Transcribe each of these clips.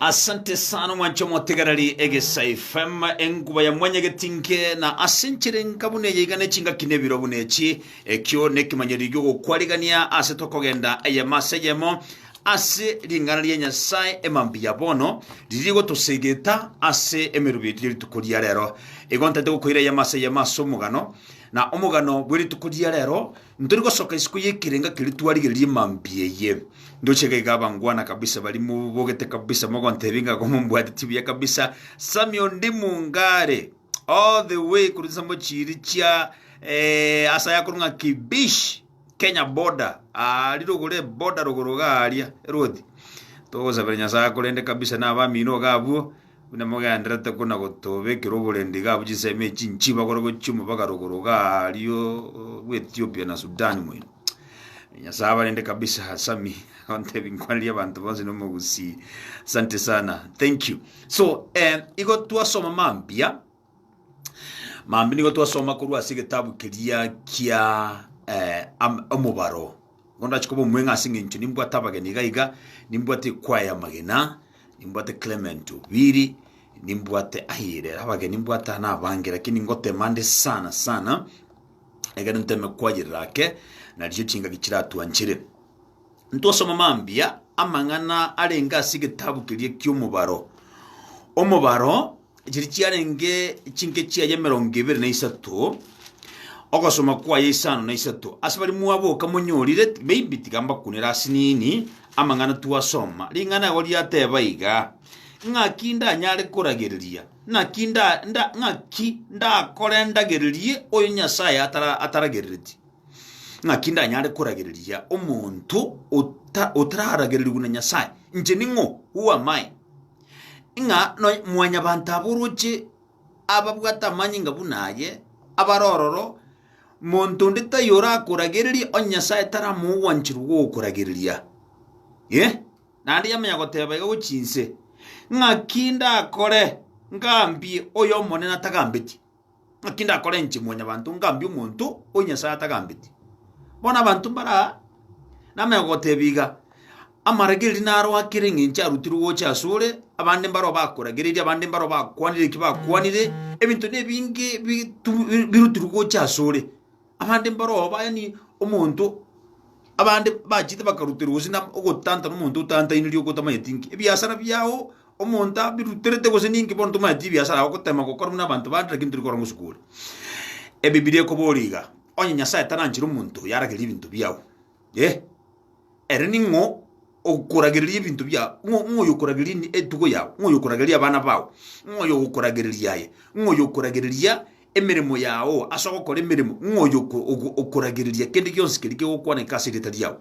Asante sana omwanche omotegereri egesa FM enkuba ya mwanyegeti nge na ase enchera enka buna eye iga nechingaki nebiro buna echi ekio nekimanyereri giogokwarigania ase tokogenda eyemo ase eyemo ase ring'ana ria Nyasaye emambi ya bono riria rigotoseegeta ase emerubu yetu ya rituko ria rero. Igo ntaete gokoira eyemo ase eyemo ase omogano na omogano bwe rituko ria rero Ntori gosoka isiko y'ekerenga keria twarigererie mambia eye. Ndoche iga iga abangwana kabisa baria mobogete kabisa mogontebia ng'a igo mombwateti buya kabisa. Sammy Ondi Mungare all the way korwa chinsambo chiiri chia eh, ase ayakorwa ng'a Kibish Kenya border ah, rirogoro eboda rogoro iga aria eruothi. Togosabera Nyasaye akorende kabisa na abamino iga abwo. Buna mogenderete ko na gotobekera oborendi iga abwo chinsemo echi nchibe agore gochia omobaka rogoro iga ario bw'Ethiopia na Sudan moino. Nyasaye abarinde kabisa Sami ontebi nkwaneri abanto bonsi na omogusii. Asante sana. Thank you. So eh, igo twasoma mambia Mambia nigo twasoma korwa ase egetabu keria kia eh, am- omobaro bono ndache koba omweng'a ase eng'encho nimbwate abageni iga iga nimbwate ekwaya ya magena nimbwate clement obiri nimbwate ayire abageni nimbwate aa na abange lakini ngotema nde sana sana egere nteme kwayerera ake naricho chingaki chiratwanchere ntwasoma mambia amang'ana arenge ase egetabu keria ki'omobaro omobaro Chiria chiarenge chinke chiaye emerongo ebere na isato, ogosoma kwaye isano na isato. Ase baria mwaboka monyorire, maybe tiga mbakunere ase nini amang'ana twasoma. Ring'ana ego riateba iga, ng'aki ndanyare koragereria, ng'aki nda, nda, ng'aki ndakore ndagererie oyo Nyasaye atara, ataragerereti. Ng'aki ndanyare koragereria omonto ota, otararagererigwe na Nyasaye. Inche ning'o? Who am I? ng'a nonya mwanyabanto abe oroche ababwate amanyinga buna aye, abare ororo, monto onde taiyo orakoragereria onye Nyasae tari amogwanchiri gokoragereria. Ee, naende yamanya goteba iga gochia inse, Ng'aki ndakore ngambie oyo Omonene atagambeti? Naki ndakorenche mwanyabanto ngambie omonto o Nyasae atagambeti. Bono abanto mbare aa namanya gotebia iga, Amarage erio naro akere engencho arutirwe gocha asore, abande mbareo bakoragereria, abande mbareo bakwanire eki bakwanire, ebinto nebinge bitu birutirwe gocha asore. Abande mbarobao, yaani omonto, abande bachete bakaruterwa gose na ogotantana omonto otantainiri ogotamanyeti nki ebiasara biao omonto abiruterete gose ninki bono tomanyeti ebiasara yao gotema gokora buna abanto bande lakini tori korora ng'a osukure. Ebibilia ekoboria iga, onye Nyasae taranchire omonto oyaragerie ebinto biao, eh, ere ning'o? okoragereria ebinto biao, ng'o- ng'oyo okoragereria ende- etugo yao, ng'oyo okoragereria abana bao, ng'oyo ogokoragereria aye, ng'oyo okoragereria emeremo yao ase ogokora emeremo, ng'oyo oko- ogo- okoragereria kende gionsi keria kegokwaneka ase erieta riao,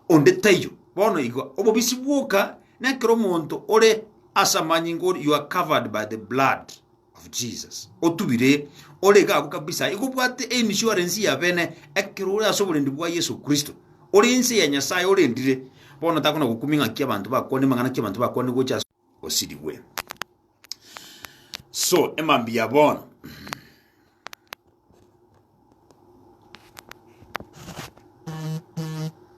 onde taiyo. Bono igo, obobisi bwoka, na ekero omonto ore ase amanyinga ore, you are covered by the blood. of Jesus. Otubire, ore gaabu kabisa, igo obwate einsurance ya bene ekero ore ase oborendi bwa Yeso Kristo. Ore ense ya Nyasae orendire, bono takona gokumia ng'aki abanto bakwane mang'ana ki abanto bakwane gocha ase osirigwe. So, emambia bono.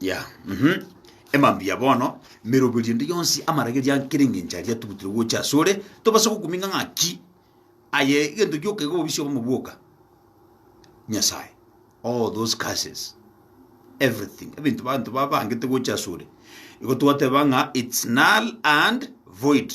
Yeah, mhm. Emambia bono, meroberio ende yonsi amarageria nkere engencho aria tugutire gocha asore, tobase gokuming'a ng'aki aye egento gioka iga obisi obomo bwoka. Nyasaye, all those curses, everything, ebinto banto babangete gocha asore, igo twateba ng'a it's null and void.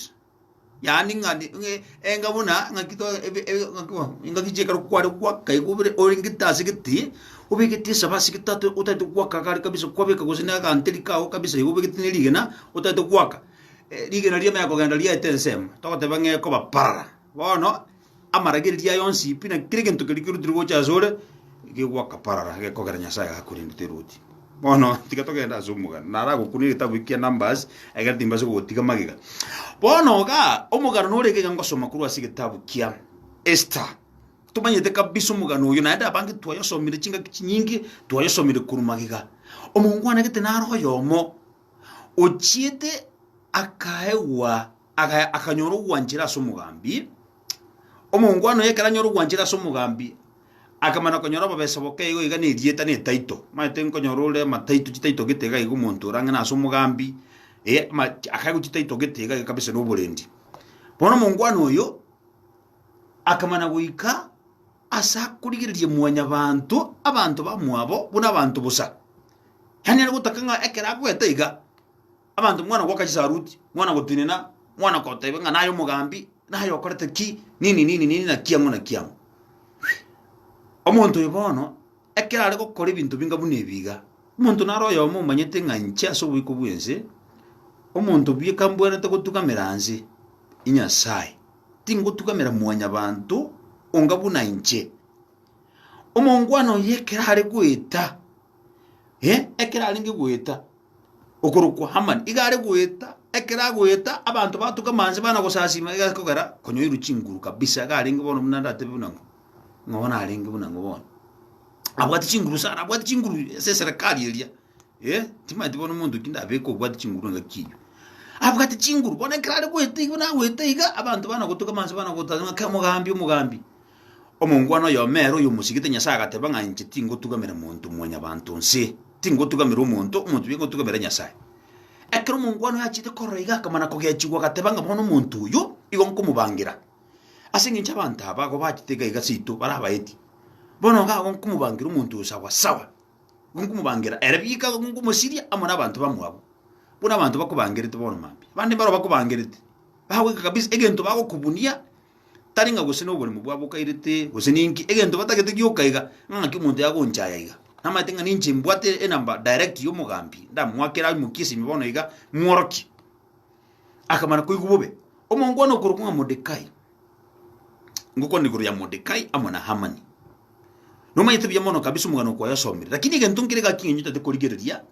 Yaani ng'a ni- ng'a enga buna ng'aki to- ebe- ebe- ng'aki bo- engaki chiekare kware goaka igo bire orengete ase egete, obegete esaba ase egete ata otaete goaka iga are kabisa kwabeka gose na aganteri kago kabisa igo obegete na erigena otaete goaka, rigena riamanya kogenda riaete ensemo, togoteba ng'a ekoba parara. Bono. amaragereria aye onsi pi, na kera egento keria kerutire gocha asore gegoakaparara gekogera Nyasaye agakorenda teroti. Bono tiga togenda ase omogano. Naragokuna egetabu ekia Numbers egere timbase gogotiga magega. Bono ga omogano nore iga ngosoma korwa ase egetabu kia Esther. Tomanyete kabisa omogano oyo naende abange twayosomire chingaki chinyinge twayosomire korwa magega. Omongwana gete naro oyomo ochiete akaegwa Agaya akanyora ogwanchera ase omogambi. Omongwana oyo ekero anyora ogwanchera ase omogambi, akamana konyora obobesa boke igo iga na erieta na etaito. Omanyete nkonyora ore amataito chitaito gete iga iga omonto ore ang'e nase omogambi, eh, ama- chi- akaegwa chitaito gete iga iga kabisa na oborendi. Bono omongwana oyo akamana goika ase akorigereria mwanyabanto abanto bamwabo buna abanto bosa. Yaani are gotaka ng'a ekero agoeta iga. Abanto mwana goka chisaruti, mwana gotenena, mwana koteba ng'a naye omogambi, naye okorete ki, nini, nini, nini, na kiang'o na kiang'o. Omonto oyo bono, ekero are gokora ebinto binga buna ebi iga, omonto naro oyomo omanyete ng'a inche ase oboiko bw'ense, omonto buya kambwenerete gotugamera nse ya Nyasae, tingotugamera mwanyabanto onga buna inche. Omongwana oyo ekero are goeta, eh, ekero arenge goeta, okorokwa Hamani iga are goeta, ekero agoeta abanto batuke amanse bana gosasiima iga kogera konyoirwe chinguru kabisa iga arenge bono buna ndatebe buna ng'o, ng'a bono arenge buna ng'o bono. Abwate chinguru sana, abwate chinguru ase eserekari eria, eh, timanyeti bono omonto ki ndabeke obwate chinguru engaki eyio. Abwate chinguru, bono ekero are goeta iga buna agoeta iga, abanto bana gotuka amanse bana goteba ng'a kera omogambi, omogambi. Omongwana oyomo ere oyomosigete Nyasae agateba ng'a inche tingotugamera monto mwanyabanto onse, tingotugamera omonto, omonto oyo ngotugamera Nyasae. Ekero omongwana oyo achiete korora iga akamana kogechigwa agateba ng'a bono omonto oyo igo nkomobangira, ase engencho abanto aba agwo bachete iga iga seito bare abaeti. Bono iga agwo nkomobangira omonto oyo sawa sawa, nigo nkomobangira ere bieka igo nkomosiria amo nabanto bamwabo, buna abanto bakobangerete bono mambia. Abande mbaro bakobangerete, bagoika kabisa egento bagokubunia. tari ng'a gose noboremu bwabo bokairete, gose ninki, egento batagete gioka iga, ng'a ng'aki omonto yagonchaya iga. Namaete ng'a ninche mbwate enamba direct y'omogambi, ndamoakere aimokie esimi bono iga, mworokie. Akamana koigwa bobe. Omongwana okorokwa ng'a Mordekai, ngokwana igoro ya Mordekai amo na Hamani. Nomanyete buya mono kabisa omogano okwo oyasomire, lakini egento nkere gaki ng'a nyotete korigereria,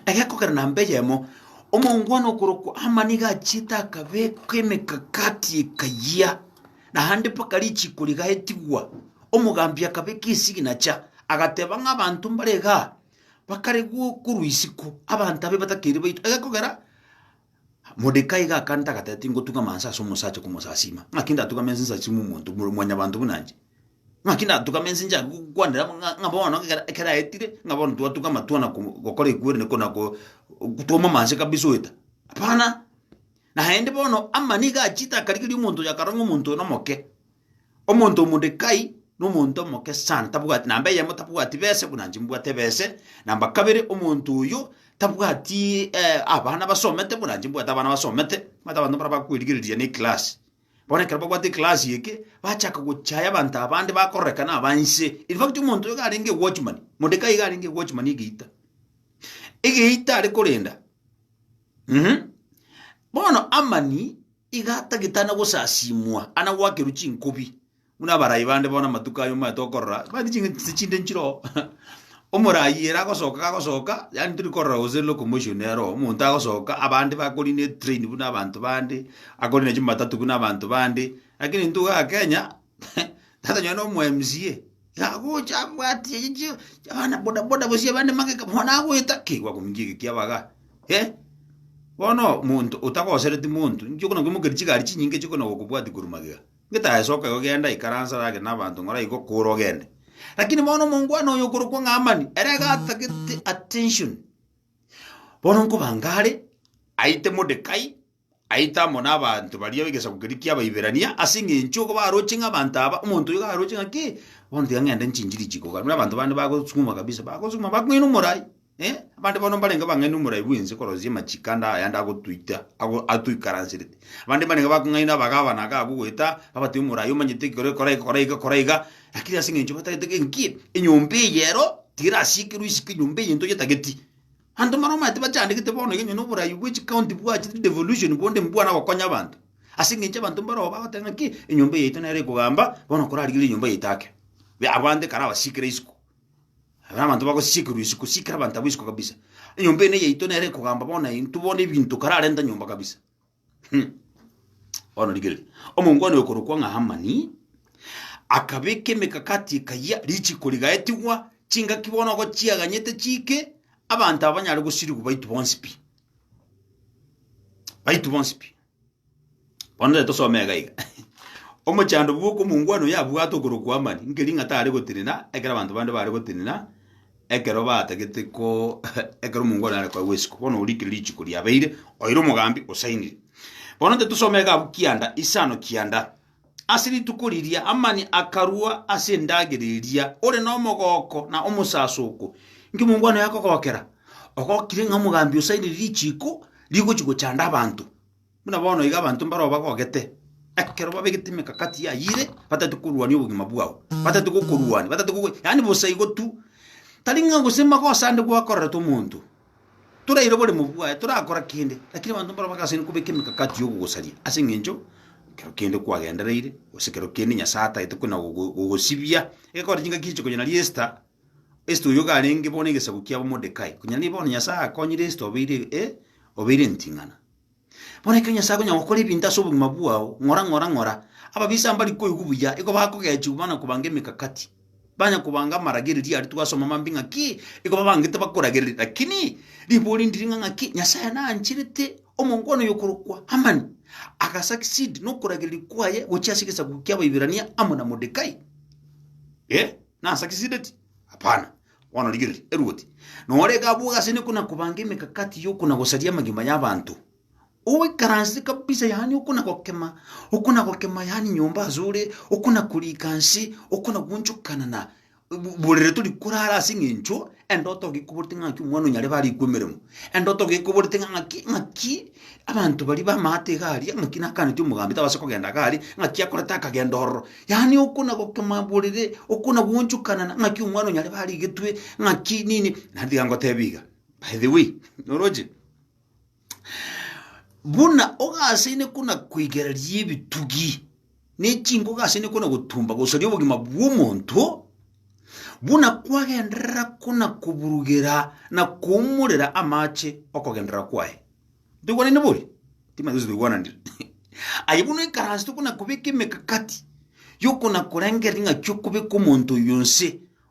egekogera namba eyemo, omongwana okorokwa Ama nigo achiete akabekwa emekakati ekayia, naende mpaka richiko rigaetigwa, omogambi akabeka esignature, agateba ng'a abanto mbare igaa, bakare go- korwa isiko, abanto abe batakeire baitwa, egekogera. Modekai gakanta agateba, Tingotung'ama nse ase omosacha komosasiima, ng'aki ndatung'ame nse nsasiime omonto buna mwanyabanto buna inche? Ng'aki ndatung'ame nse nchake gokwanera ng'a ng'a bono ekero ekero aetire ng'a bono twatung'ama twana ko- gokora ekwerene kona ko twaumama nse kabisa oeta? Hapana! Naende bono Amani nigo achiete akarigeria omonto oyo akarora ng'a omonto oyo nomoke. Omonto Modekai nomonto omoke sana, tabwati namba eyemo tabwati bese buna inche mbwate bese, namba kabere omonto oyo tabwati eh, abana basomete buna inche mbwate abana basomete, omanyete abanto mbare bakwerigereria ne class. Bono ekero babwate eclass eke, bachaka gochaya abanto abande bakororekana aba inse. In fact omonto oyo iga arenge ewatchman, Modekai iga arenge ewatchman egeita. Egeita are korenda. Mh. Bono Amani. Iga tagitana gosasimwa ana gwakerwa chinkubi buna abarai bande bono amatuko aya omanyete okorora bati ching'iti chise chinde nchiroo omorai ere agosoka gagosoka yaani tori korora gose locomotion ero omonto agosoka abande bakori ne train buna abanto bande akore nachi matatu buna abanto bande lakini intwe iga kenya Tata nonye nomo MCA, iga agocha abwati eyi chi abana boda boda gose abande magega bono nagoeta ki gwakomincha egeki abaga eh. Bono monto otagosereti monto, inche okona nkoimokeria chigari chinyinge chio okona gokobwati korwa magega, ngetae soka igo genda ikaranse are ake nabanto ng'ora igo kora ogende. Lakini bono omongwana oyo okorokwa ng'a Amani, ere iga atagete attention, bono nkoba ngare aite Modekai. aite amo nabaanto baria b'egesaku keria ki'Abaiberania, ase engencho igo baroche ng'a abanto aba, omonto oyo iga aroche ng'a ki, bono tiga ng'ende nchinchiri chikoka. Buna abanto bande bagosukuma kabisa, bagosukuma bakong'ina omorai, eh, abande bono mbarenge bang'aini omorai bw'ense korosia amachiko ande aya ande agotuita, ago atoikaranserete. Abande mbarenge bakong'aina abagabana iga agogoeta, babatebia omorai omanyete ekero ekora iga kora iga kora iga, lakini ase engencho batagete ng'a enki, enyomba eye ero, tiga erasiekerwe isiko enyomba eye ntoyetageti. Abanto mbarabwo omanyete bachandegete bono iga onye na oborai bwe chikaunti bwachete devolution bonde mbwane gokonya abanto. Ase eng'encho abanto mbarabwo bagoteba ng'a ki, enyomba eye yaito nere ekogamba, bono korarigereria enyomba yaito ake. Be abwo bande kare abasikera isiko, abwo nabanto bagosikerwa isiko, sikera abanto abwo isiko kabisa. Enyomba eye neyaito nere ekogamba bono intwe bono ebinto kare arenta nyomba kabisa. Bono rigereria, omongwana oyo okorokwa ng'a Hamani akabeka emekakati ekayia richiko rigaetigwa, chingaki bono igo chiaganyete chiike, abanto aba banyare gosirigwa baitu bonsi pi, baitu bonsi pi. Bono tari tosome iga iga omochando bw'oka omongwana oyo abwate okorokwa Hamani, nkeri ng'a tare gotenena ekero abanto bande bare gotenena. Ekero batagete ko ekero omongwana are koegwa isiko, bono orikire richiko riabeire, oire omogambi osainire. Bono inche tusome egabu kianda, isano kianda. Ase rituko riria amani akarua ase endagera eria, ore nomogooko na omosasoko. Inki omongwana oyo akogokera? Ogokire ng'a omogambi osainire richiko rigochi gochanda abanto. Buna bono iga abanto mbaro obagogete, ekero babegete emekakati yaye ire, batagete korwania obogima bwao, batagete gokorwania, batagete gogo yaani bosa igo tu. Tari ng'a gose magoso ande gwakorerete omonto, toraire oboremo bwaye, torakora kende, lakini abanto mbaro bagasaini kobeka emekakati ya ogogosaria ase eng'encho ekero kende kwagendereire, gose ekero kende Nyasae atagete kona gogo gogosibia. Egekogera chingaki echi konya naria Esther, Esther oyio iga arenge bono egesaku kia Modekai, konya naria bono Nyasae akonyire Esther obeire eh, obeire enting'ana. Bono ekero Nyasae akonya gokora ebinto ase obogima bwao, ng'ora, ng'ora, ng'ora. Ababisa mbari koigwa buya, igo bakogechigwa bana kobanga emegakati, banya kobanga amaragererio aria twasoma mambia ng'aki igo babangete bakoragereri. Lakini ribori ndiri ng'a ng'aki Nyasae naancherete omongwana oyo okorokwa Hamani, agasucceed nokoragereria kwaye gochia ase egesaku ki'Abaiberania amo na Modekai. Eh. Nasa kisideti? Hapana. Bono rigereria, eruoti nore gabwoga ase nekuna kobanga emekakati y'okuna gosaria amagima y'abanto. Oikaranse kabisa yaani okuna gokema, okuna gokema yaani nyomba ase ore, okuna korika nse, okuna gwonchokanana, bu- burere tori korara ase eng'encho Endoto iga ekoborete ng'a ng'aki omwana o nyarebe arikwe emeremo, endoto iga ekoborete ng'a ng'aki ng'aki abanto baria b'amaate iga aria, ng'aki nakaaneti omogambi tabase kogenda iga aria, ng'aki akorete akagenda ororo. Yaani okona gokima borere, okona goonchokanana ng'aki omwana o nyarebe arigetwe, ng'aki nini, naende tiga ngotebie iga, by the way, oroche? Buna ogasaine kona koigereria ebitugi ne chinko ogasaine kona gotumba gosaria obogima bw'omonto, buna kwagenderera kona koburugera na koumorera amache okogenderera kwaye. Ntoigwanaine boria? Timanyeti gose toigwananire. Aye buna oikaranse tokona kobeka emekakati yokona korengereria ng'aki okobeka omonto oyo inse,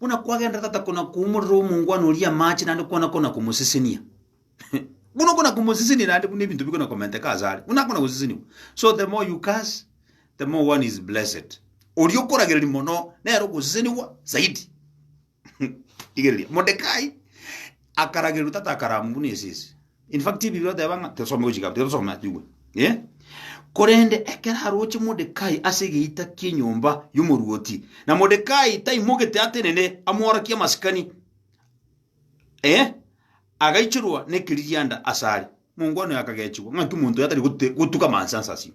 Buna kwagenderete tata kona-koumorera omongwana oria amache naende kona-kona komosesenia. Buna okona-komosesenia naende buna ebinto bikona-komenteka ase are, buna akona goseseniwa. So the more you curse, the more one is blessed. Oria okoragereria mono, nere ogoseseniwa zaidi. Rigereria, Modekai akaragererwa tata akarama buna esese. In fact Biblia oteba ng'a tosome gochika tiga tosome ase igwe. Eh? Korende ekero aroche Mordekai ase egeita ki'enyomba y'omoruoti, na Mordekai taimogete atenene amworokie amasikani, eh, agaichorwa nekeririanda asare. Mongo one akagechigwa, ng'a inki omonto oyo atari gote- gotuka manse anse asio?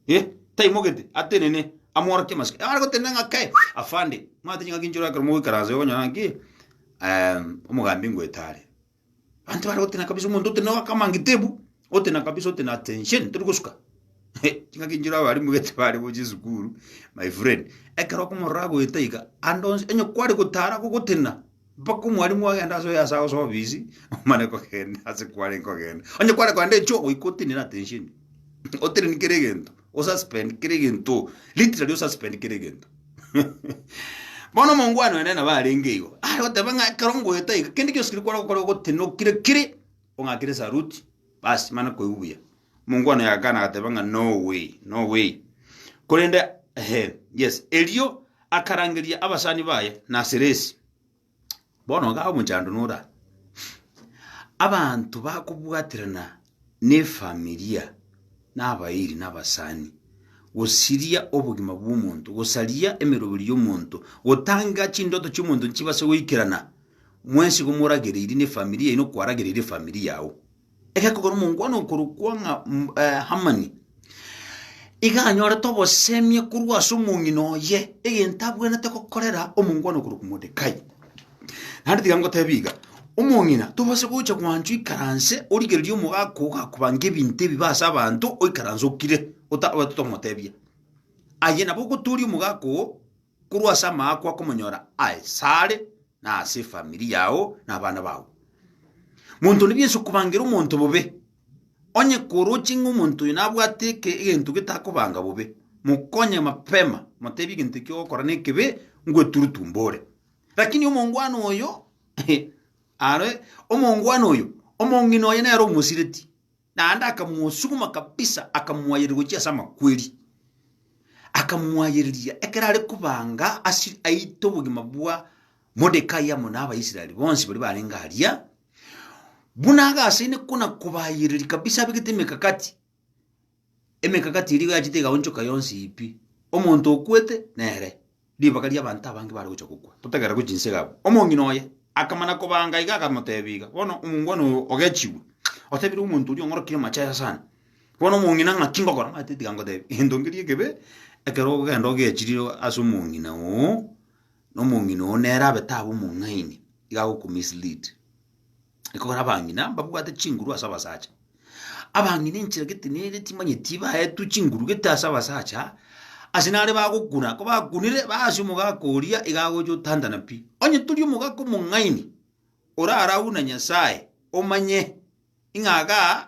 Eh, taimogete atenene amworokie amasikani. Are gotenena ng'a kae, afande, mwate ching'aki nchirwe ekero mogoikaransa iga okonyora ng'a ki, em, omogambi ngoeta are. Abanto bare otena kabisa omonto otena akamangete bu, otena kabisa otena attention tori gosuka. Chingaki nchire abalimu gete bare gochia esukuru my friend. Ekero okomorora agoeta iga ande onsi onye kware gotara gogotena mpaka omwalimu agende ase oye ase ase obisi omane kogenda ase kwarenge kogenda. Onye kware kogenda echogo goika otenire attention oteneni kera egento. Osuspend kera egento. Literally osuspend kera egento. Bono omongwana one nabo arenge igo, are goteba ng'a ekero ngoeta iga, kende gionsi keria kware gokora ogotenokire kire, ong'akere saruti, bas mane koigwa buya. Omongwana oyo agakana agateba ng'a no way, no way. Korende ehe, yes. Erio akarangeria abasani baye na Siresi. Bono iga omochando nore aa, abanto bakobwaterana na efamilia, na abairi na abasani, gosiria obogima bwa omonto, gosaria emeroberi ya omonto, gotanga chindoto chia omonto nchibase goikerana, mwensi igo moragereiri na efamilia yaino kwaragereire efamilia yao. egekogera omongwana okorokwa ng'a mm, eh, Hamani, iga anyorete obosemie korwa ase omong'ina oye, egento abwenerete gokorera omongwana okorokwa Modekai. Naende tiga ngotebie iga, omong'ina tobasa gocha gwanchwa ikaranse origererie omogaka ogakobange ebinto ebibe ase abanto, oikaranse okire, ota- otatomotebia. Aye nabo ogotooria omogaka oo. korwa ase amaakwa akomonyora aye sare na ase efamiri yao na abana bao. Monto onde bwensi okobangera omonto bobe, onye koroche ng'a omonto oyo nabwate eke- egento getakobanga bobe, mokonye mapema, motebie egento ekio ogokora nekebe, ngweturutu mbore. Lakini omongwana oyo are omongwana oyo, omong'ina oye nere omosireti. Naende akamosuguma kabisa, akamoayereria gochia ase amakweri, akamoayereria ekero are kobanga ase aite obogima bwa Modekai amo na Abaisraeli bonsi baria barenge aria, buna agasaine kona-kobayereria kabisa abegete emekakati, emekakati eria igo yachete igaonchoka yonsi pi, omonto okwete nere. ribaga ri'abanto abange bare gocha gokwa, totegerera gochia inse gabo. Omong'ina oye akamana kobanga iga akamotebia iga, Bono omongwana oyo ogechigwe, otebire omonto oria ong'orokire amache aya sana. Bono omong'ina ng'aki ngokora? Omanyete tiga ngotebia egento nkeria ekebe, ekero ogenda ogechire ase omong'ina oo, na omong'ina oo nere abe tabe omong'aini, iga agoku mislead. Ekogera abang'ina mbabwate chinguru ase abasacha. Abang'ina enchera gete nere timanyeti baetwe chinguru gete ase abasacha, ase nare bagokuna, kobakunire baasia omogaka oria iga agocha otantana pi. Onye tori omogaka omong'aini, orarawu na Nyasae, omanye, ing'a igaa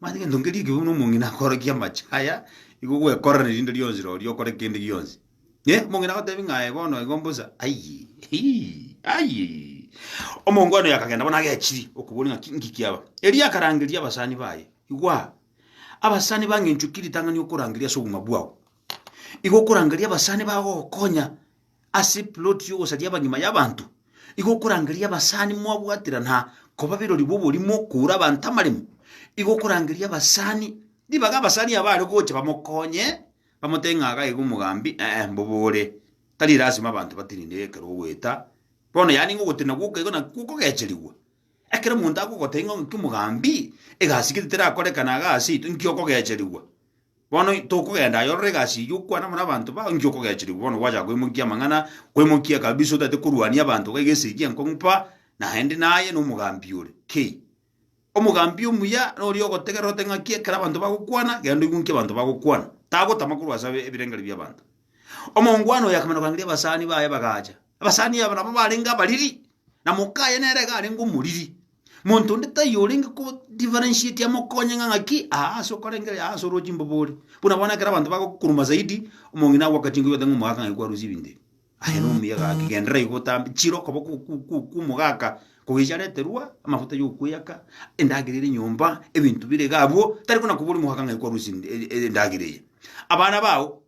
Manyete gento nkeria ekero buna omong'ina akoorokia amache aya, nigo ogwekorera erinde rionsi roria okore kende gionsi. Eh, omong'ina agotebi ng'a aye bono igo mbosa, aiyii, hii, aiyii. Omonto one oyo akagenda bono agechiri okoboria ng'a ki nki kiaba. Erio akarangeria abasani baye, Igwaa, abasani bang'enchwe ki ritang'ani okorangeria ase obong'a bwao? Igo okorangeria abasani bagogokonya ase ploti y'ogosaria abanyuma y'abanto, igo okorangeria abasani mwabwatera na koba birori bw'oborimo koura abanto amaremo, igo okorangeria abasani ribaga abasani aba are gocha bamokonye, bamotebie ng'a iga iga omogambi, ee mbobore, tari lasima abanto batirindegwe ekero ogoeta, bono yaani ng'a ogotenena gwoka igo nakwo okogecherigwa. Ekero omonto agogotebia ng'a ng'aki omogambi, egasi gete terakorekana iga ase intwe, inki okogecherigwa? Bono tokogenda aye orore egasi eyio okwane amo nabanto bao inki okogechirigwa bono gwachaka koimokia amang'ana koimokia kabisa otaete korwania abanto iga egese egia enkong'u pa naende naye na omogambi ore kei. Omogambi omuya noria ogotegerera ote ng'aki ekero abanto bagokwana genda oigwe nki abanto bagokwana tagotama korwa ase abe ebirengerio biabanto. Omongwana oyo akamanya korangeria abasani baye bagacha abasani aba nabo barenge abariri na moka aye nere iga arenge omoriri. Monto onde taiyo orenge ko differentiate amokonye ng'a ng'aki aa ase okorengeri aa ase orwo chimbobe ore. Buna bono ekero abanto bagokukuruma zaidi, omong'ina agoaka chinko oyote ng'a omogaka ng'ai kwarusia ebinto ebi. Aye nomuya gaki genderera igo otambe chire okoba ku- ku- ku- ku omogaka kogechia areterwa amafuta ya okweyaka, endagera ere nyomba, ebinto bire iga abwo, tari kona koboria omogaka ng'ai kwarusia e- e- endagera eye. Abana bao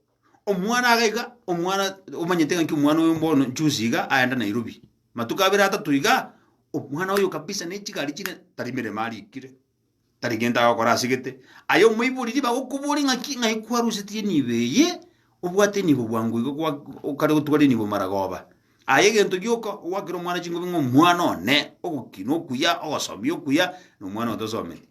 Omwana aga iga, omwana omanyete ng'a ki omwana oyo bono juzi iga aenda Nairobi, matuko abere atato igaa, omwana oyo kabisa ne chigari chire, tari emeremo arikire, tari gento agokora asegete, aye omoibori riba agokobori ng'a ki, ng'ai kwarusetie enibo eye, obwate enibo bwango iga gwa okare gotwara enibo maragoba. Aye egento gioka, ogwakera omwana chingobe ng'a omwana one, ogokina okuya, ogosomia okuya, na omwana oyo tosometie.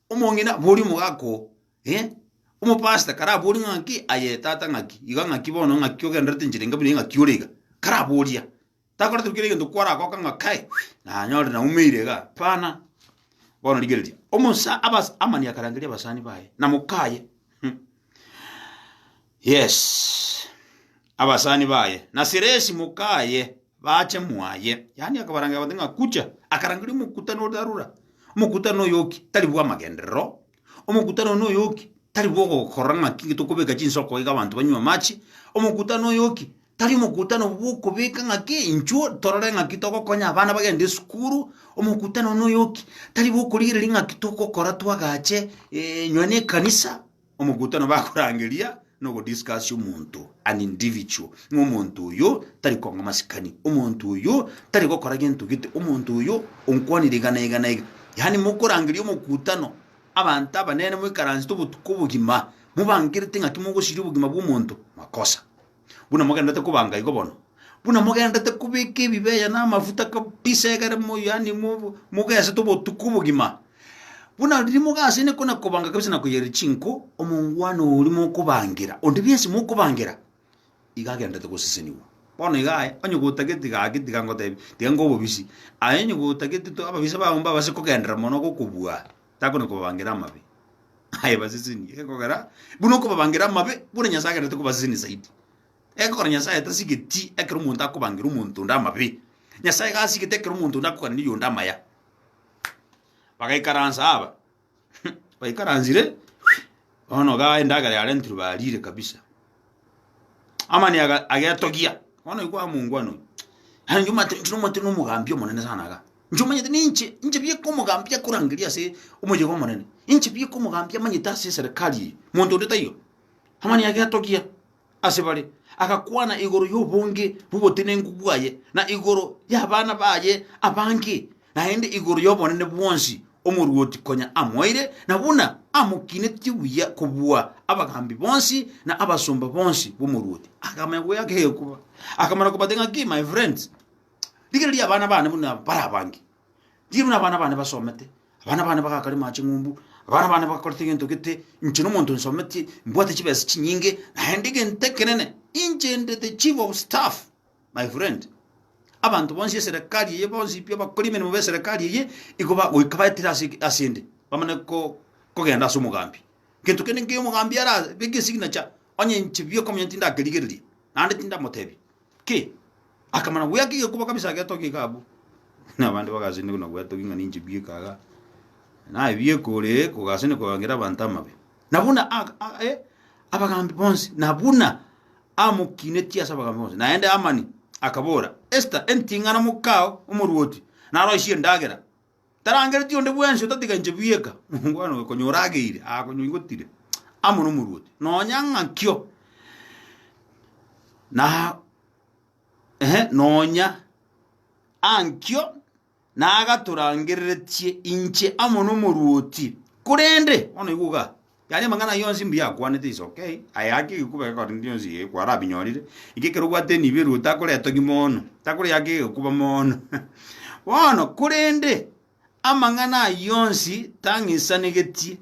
Omong'ina aborie omogaka oo, eh, omopastor karaborie ng'a ng'aki, aye tata ng'aki, iga ng'aki bono ng'aki ogendererete enchera enga buna eye ng'aki ore iga, karaborie iga. Takoretire kera egento kwaragoka ng'a kai, nanyore naumeire iga, hapana. Bono rigereria, omosa abas Hamani akarangeria abasani baye na mokaye, Yes, abasani baye na Siresi mokaye bache mwaye. Yaani akabaranga agoteba ng'a kucha, akarangeria omokutano ore arura. Omokutano oyoki tari bw'amagenderero, omokutano one oyoki tari bw'ogokora ng'aki inge tokobeka chinsoko iga abanto banywe amache, omokutano oyoki tari omokutano bw'okobeka ng'aki inchuo torore ng'aki togokonya abana bagende esukuru, omokutano one oyoki tari bw'okorigereria ng'aki togokora twagache eh, nonya na ekanisa, Omogutano bakorangeria na ogodiscuss omonto an individual, ng'a omonto oyo tari kong'a masikani, omonto oyo tari gokora gento gete, omonto oyo onkwanire iga na iga na iga. Yaani mokorangeria omogutano abanto abanene moikaransete obotuko obogima mobangerete ng'aki mogosiria obogima bw'omonto, makosa. buna mogenderete kobanga igo bono, buna mogenderete kobeka ebibeya na amafuta kabisa egere mo yaani mo- mogesete obotuko obogima, buna riria mogase inwe kona kobanga kabisa na koyereri chinko, omongwana oria mokobangera, onde bwensi mokobangera, iga agenderete gosesenigwa. Bono iga aye, onye gotageti gaki tiga ngotebi, tiga ngobe obisi, aye onye gotageti to ababisa bago mbabase kogenderera mono gokobua. takona kobabangera amabe, aye baseseni, egekogera buna okobabangera amabe, buna Nyasae agenderete kobaseseni zaidi. Egekogera Nyasae tasigeti ekero omonto akobangera omonto onde amabe, Nyasae iga asigete ekero omonto onde akogania oyonde amaya. Bagaikaransa aba, baikaransire, bono igaa endagera yarentirwe bariire kabisa. Hamani aga- agetogia, bono igwa omongwana oyo, yaani inche omanyete inche nomanyete na omogambi omonene sana iga, inche omanyete na inche, inche bieka omogambi akorangeria ase omoyega omonene, inche bieka omogambi amanyete ase eserekari eye, monto onde taiyo. Hamani agetogia ase bare, agakwana igoro ya obonge bwa obotenenku bwaye, na igoro ya abana baye abange. naende igoro y'obonene bwonsi omoruoti konya amoeire, na buna amokinetie buya kobua abagaambi bonsi na abasomba bonsi b'omoruoti, akamanya koba yake egokuba. Akamana kobate ng'aki, My friends, rigereria abana bane buna bare abange. Rigereria buna abana bane basomete, abana bane bagakarema ching'umbu, abana bane bakorete gento gete, inche na omonto nsometie, mbwate chibesa chinyinge, naende egento ekenene, inche ndete chief of staff. My friend, abanto bonsi eserekari eye bonsi pi abakori emeremo b'eserekari eye igo bagoika baetire ase ase ende bamane ko- kogenda ase omogambi. Gento kende nkeyo omogambi ara beke esignature, onye inche bioka monyene tindakerigereria, naende tindamotebia ki, akamana goeaka egekuba kabisa agetogia iga abwo. Buna abande bagasindwa na goetogia ng'a ninche bioka iga, naye bioka oree kogasanigwa korengera abanto amabe. Na buna a- a- e, abagaambi bonsi, na buna amokinetie ase abagaambi bonsi, naende Hamani akabora Esta, Enting'ana mokao omoruoti naroisie endagera, tarangereti onde bwensi otatiga inche bweka. Mwana oyo konya orageire aa konya oigotire amo nomoruoti, nonya ng'akio na ehe, nonya ankio na agatorangereretie inche amo nomoruoti. Korende, bono igwa iga, yaani amang'ana ayio onsi mbuya akwanete is ok, aye ake egekuba gekorende gionsi iga ekwa arabinyorire, iga ekero obwate enibo eruo takora etogi mono, takoria ake egekuba mono. Bono korende, amang'ana ayio onsi tang'isanegetie,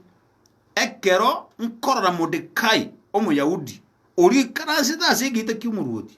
ekero nkorora Modekai, Omoyahudi, oria oikaransete ase egeita ki'omoruoti,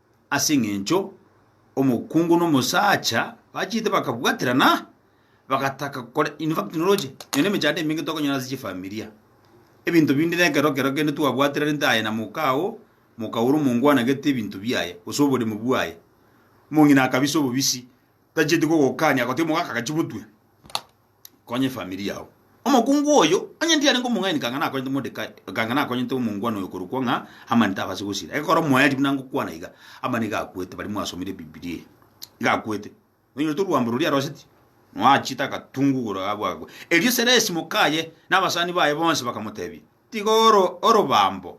Ase engencho omokungu na omosacha bachete bakabwaterana, bagataka kore in fact noroche nonye emechando emenge tokonyora ase chifamilia. Ebinto binde na ekero kero kende twabwaterarente aye na moka oo, moka ore omongwanagete ebinto biaye gose oboremu bwaye. Omong'ina akabisa obobisi, tacheti kogokania, agoteba omogaka gachia gotwe. Konya efamiri yao. Omokungu oyo, onye ndiarenge omong'aini ekanga nakonyete Mordekai, ekanga nakonyete omongwana oyo korokwa ng'a Hamani tabase gosira. Ekero omoerio buna ngokwana iga, Hamani iga akwete, baria mwasomire Ebibilia eye, iga akwete, oinyorete orwambo roria aroseti, noachete agatungu igoro agwo agakwa. Erio Seresi mokaye na abasani baye bonsi bakamoteebia, Tiga orobambo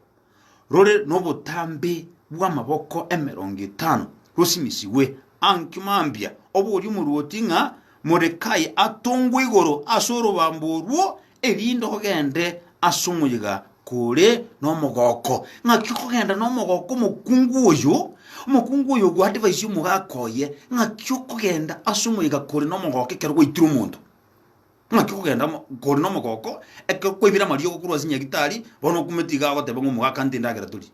rore nobotambe bw'amaboko emerongo etano rosimisigwe aanki mambia, oborie omorwoti ng'a Morekai atongwe igoro ase orobambo orwo, erinde ogende ase omoyega kore nomogooko. Ng'aki okogenda nomogooko omokungu oyo, omokungu oyo ogoadvise omogaka oye? Ng'aki okogenda ase omoyega kore nomogooko ekero gwaitire omonto? Naki kogenda mo, kore nomogooko, ekero kwaibire amariogo korwa ase Nyagitari, bono okumeti iga agoteba ng'a omogaka nte endagera torie.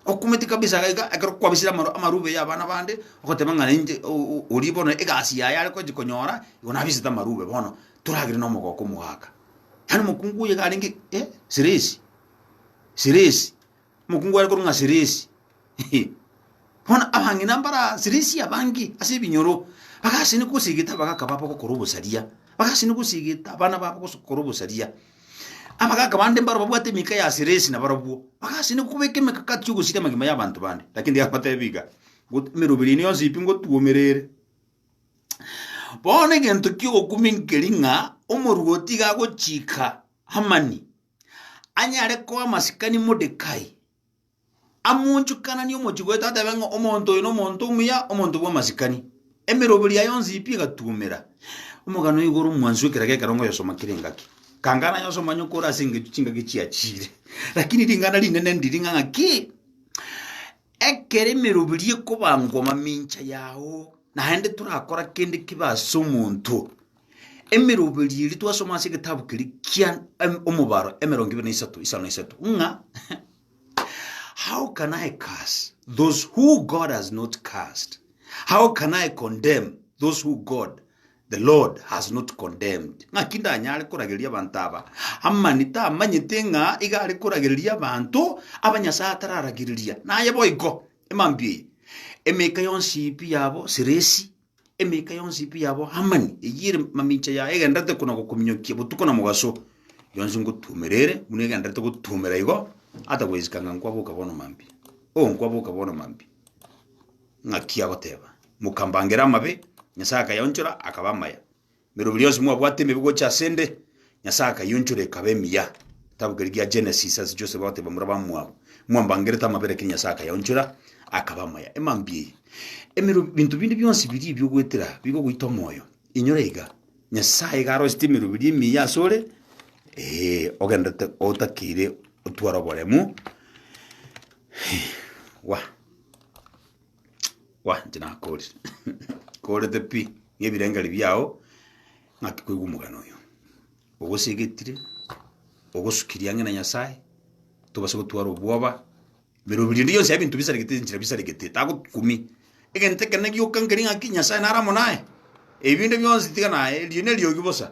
Okumeti kabisa iga iga, ekero kwabisire amaru amarube ya abana bande, ogoteba ng'a nainche o- o- oria bono egasi yaye are gochi konyora, igo nabisete amarube bono, toragere nomogooko omogaka. Yaani omokungu oyo iga arenge eh, seresi, seresi. Omokungu are korwa ng'a Sirisi. Bono abang'ina mbare Sirisi abange ase ebinyoro bagachene gosigeta abagaka babo gokora obosaria, bagachene gosigeta abana babo gokora obosaria. Abagaka bande mbaro babwate emika ya Sirisi nabarabwo, bagachene kobeka emekakati y'ogosiria amagima y'abanto bande. Lakini tigabatebia iga, ngot emeroberi yaino yonsi pi ngotuomera ere. Bono egento ki'ogokumia nkeri ng'a omorwoti iga agochika Hamani. anyare koa amasikani Mordekai, amoonchokananie omochie gwaito, atebe ng'a omonto oyo nomonto omuya, omonto bw'amasikani. Emeroberi yaye yonsi pi egatuomera omogano oyo igoro mwansu ekero gekerongo oyosoma kera engaki. Kangana yosoma onye kore ase engencho chingaki chiachire, rakini ringana rinene ndiri ng'a ng'aki, ekero emeroberi ekobangwa mamincha yao, naende torakora kende kibe as'omonto. Emeroberio eria twasoma ase egetabu keria kia em- Omobaro emerongo ibere na isato, isano na isato, ng'a How can I curse those who God has not cursed? How can I condemn those who God the Lord has not condemned? Ng'aki ndanyare korageria abanto aba amani tamanyete ng'a iga are koragereria abanto aba Nyasae atararagereria? Naye boigo, emambia eye, emeka yonsi pi yabo seresi, Emeika yonsi pi yabo Hamani, eyio ere mamincha yaye egendererete kona gokominyokia botuko na mogaso, yonsi ngotuomera ere, buna egendererete gotuomera igo, ata goisika ng'a nkwaboka bono mambia. Oo, nkwaboka bono mambia. Ng'aki agoteba, Mokambangera amabe, Nyasae akayaonchora, akaba amaya. Emerobi rionsi mwabwate emibe gocha ase 'nde, Nyasae akayiunchora ekaba emiya. Egetabu keria gia Genesis ase Joseph agoteba mura bamwabo, Mwambangerete amabera ekero Nyasae akayaunchora akaba amaya. E mambia eye, emerobi, ebinto binde bionsi biria ebi ogoetera bigogoita omoyo. Inyora iga, Nyasae iga arosete emerobi eria emiya ase ore, ee, ogenderete otakeire otware oboremu, wah. Kwa, inche nakoorire. Nkoorete pi, ng'a ebirengeri biao ng'aki koigwa omogano oyo. Ogosegetire, ogosuki riang'e na Nyasae, tobasa gotwara obwoba, birobi rionde bionsi aye binto bisaregete chinchera bisaregete, tagokumia. Egento ekero gioka nkeri ng'aki Nyasae nare amo naye, ebi binde bionsi tiga naye, erio neriogi bosa.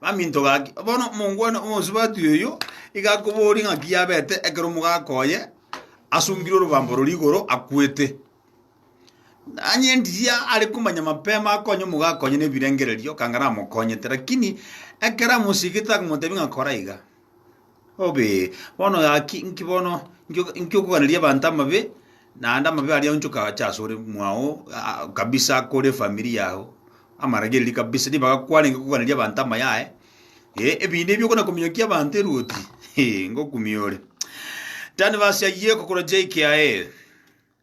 Baminto gaki, bono omongwana omosubati oyo iga akoboria ng'aki yabete ekero omogaka oye asungire orobambo roria igoro akwete. Nanye engiya are komanya mapema akonye omogaka oye na ebirengererio, ekanga namokonyete. Lakini ekero amosigete akomotebia ng'a kora iga. Obe, bono gaki, inki bono, inki o- inki okoganeria abanto amabe, naende amabe aria onchoka acha asore mwao a- a- kabisa akore efamiri yago, amaragereria kabisa nigo agakwanengi koganeria abanto amayaye, eh, ebinto ebi okona kominyokia abanto eruoti, ngokumia ore. Tani verse eyio ekokora JKIA.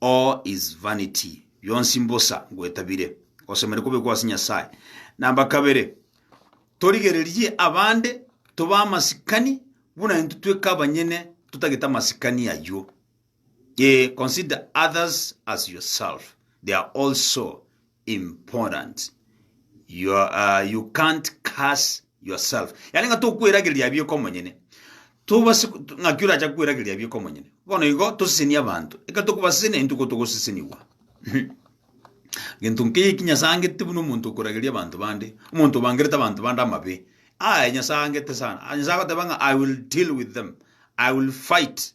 All is vanity, bionsi mbosa ngwetabire, osemeri kobekwa ase Nyasae. Namba kabere, torigererie abande tobe amasikani buna intwe tweka abanyene totagete amasikani ayio. Ee, consider others as yourself, they are also important your uh, you can't curse yourself yani nga tokwerageria biko omonyene tobase ng'aki oracha kwerageria biko omonyene bono igo toseseni abanto eka tokobasesena entuko togoseseniwa gento nkeye ki nyasaye angete buna omonto okorageria abanto bande omonto obangerete abanto bande amabe aye nyasaye angete sana Ah, nyasaye agoteba ng'a i will deal with them i will fight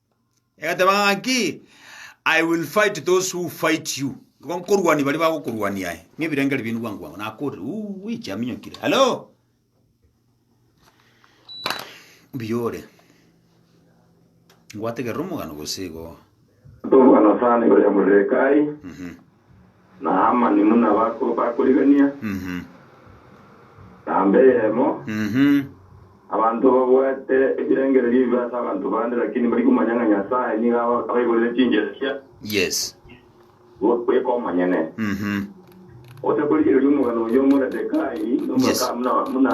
Egateba ng'aki, I will fight those who fight you. Nigo nkorwania baria bagokorwania aye. Ng'ebirengeri biaino bwango bwango. Nakorire, uui, chiaminyokire. Hello? Mbuya ore. Ngwategerera omogano gose igo. Omogano sana igoro ya Moredekai. Mhm. Na Hamani buna bakorigania, na mbe eyemo, abanto babwate ebirengererio ebibe ase abanto bande, lakini mbari komanya ng'a Nyasae nigo abaiborire chinchereria goika omonyene, gose korigereria omogano oyio o Moredekai, na omogaka buna.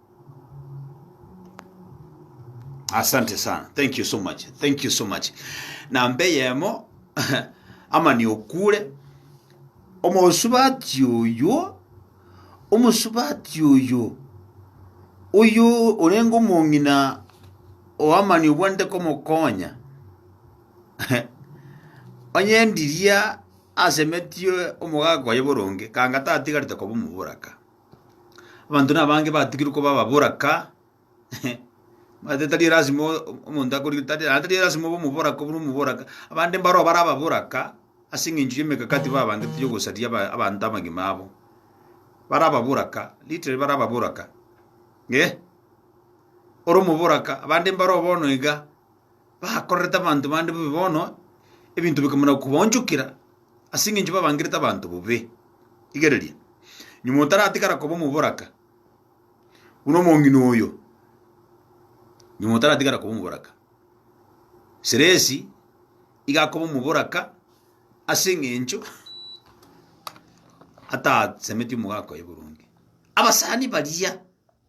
Asante sana. Thank you so much. Thank you so much. Namba eyemo amani okure omosubati oyo omosubati oyo oyo orenge omong'ina oamani obwanete komokonya onye ndiria asemetie omogaka oye boronge kanga tatigarete koba omoboraka. Abanto nabange batugirwe koba ababoraka tari lasima omonto akorire tari naende tari lasima obe omoboraka buna omoboraka abande mbaro bare ababoraka ase eng'encho y'emegakati babangete y'ogosaria aba abanto amagima abo. Bare ababoraka literally bare ababoraka eh. Ore omoboraka abande mbaro bono iga. bakorerete abanto bande bobe bono, ebinto bikamana kobaonchokera, ase engencho babangerete abanto bobe. Rigereria, nyuma otaratigara koba omoboraka, buna omong'ina oyo, nyuma otaratigara koba omoboraka. Seresi iga akoba omoboraka ase eng'encho ataasemeti omogaka oye boronge. Abasani baria.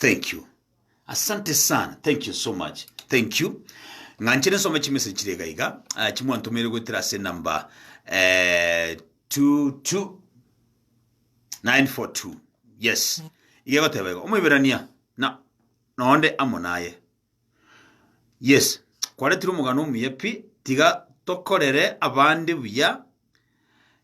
Thank you. Asante sana. Thank you so much. Thank you. Ng'anchire nsome chimessage chire iga iga. Ah, chimwantomeire goetera ase namba eh, 22 942. Yes. Iga goteba iga. Omoiberania na nonde amo naye. Yes. Kwaretire omogano omuya pi tiga tokorere abande buya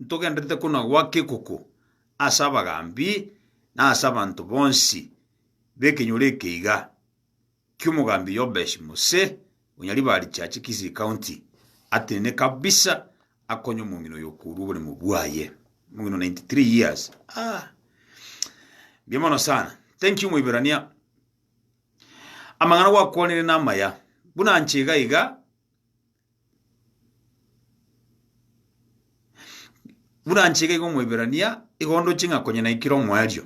ntogenderete konagwa kekuku ase abagaambi na ase abanto bonsi b'ekenyoro ekeiga ki'omogaambi Yobesh Mose o Nyaribarichache, Kisii County, atenene kabisa akonye omong'ina oyo okourwa oboremo bwaye. Omong'ina o 93 years. Ah. Mbuya mono sana. Thank you Moiberania. Amang'ana gwakwanire namaya. Buna nche iga iga Buna nche iga iga Omoiberania, igo ndoche ng'a konya naikire omoerio.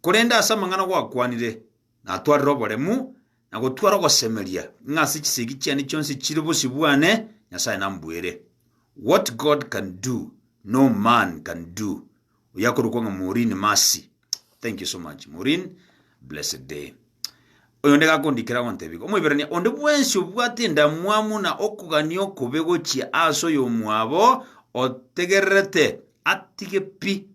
Korende ase amang'ana gwakwanire, natwarire oboremu, na gotwara ogosemeria, ng'a ase chisegi chiane chionsi chire bosio bwane, Nyasae nambuere. What God can do, no man can do. oyakorokwa ng'a Maureen Mercy. Thank you so much Maureen, blessed day. Oyonde iga akondikera agontebia, Omoiberania, onde bwensi obwate endamwamu na okogania okobe gochia ase oyomwabo otegererete, atige pi.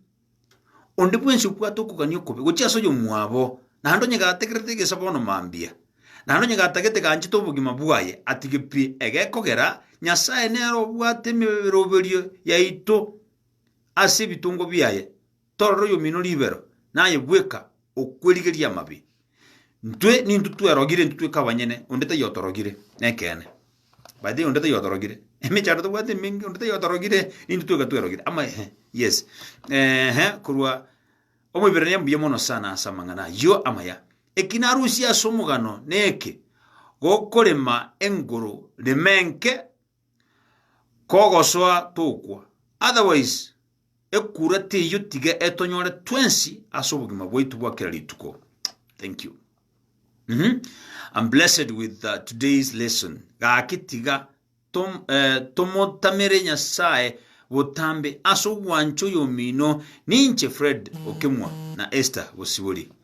Onde bwensi obwate okogania okobe gochia ase oyomwabo, naende onye gategererete egesa bono mambia, naende onye gatagete ganchete obogima bwaye, atige pi. Egekogera, Nyasae nere obwate emeroberio yaito. ase ebitongo biaye, torora oyomino ribero, naye bweka okwerigeria amabe. Ntwe nintwe twerogire, intwe tweka abanyene, onde taiyo otorogire. Nekeene. By the way, onde taiyo otorogire. Emechando tobwate emenge, onde taiyo otorogire, nintwe tweka twerogire. Ama ehe, yes. Ehe, korwa Omoiberania mbuya mono sana ase amang'ana ayio amaya. Eki narusie ase omogano neke, gokorema engoro rime nke Kogosoa tokwa, otherwise ekura teiyo tiga etonyore twensi ase obogima bwaitu bwa kera rituko. Thank you. Mhm. I'm blessed with uh, today's lesson. Gaki tiga tom, eh, tomotamere Nyasaye botambe ase ogwancha oyomino ninche Fred Okemwa na Esther Bosibori.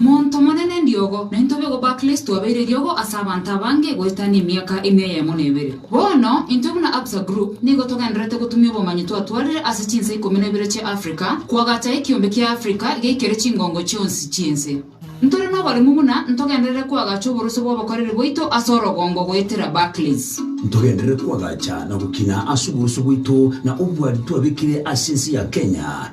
Montomonene riogo, na intwe bego ba Kristo twabeire riogo ase abanto abange goetania emiaka emia eyemo na ebere. Bono, intwe buna Absa Group nigo togendererete gotumia obomanyi twatwarire ase chinse ikomi na ibere chia Africa, koagacha ekiombe kia Africa geikere chingongo chionsi chi'ense. Ntore noboremu buna ntogenderere koagacha oborusia bw'obokoreri bwaito ase orogongo goetera Barclays. Ntogenderere koagacha na gokina ase oborusia bwaito na obwari twabekire ase ense ya Kenya.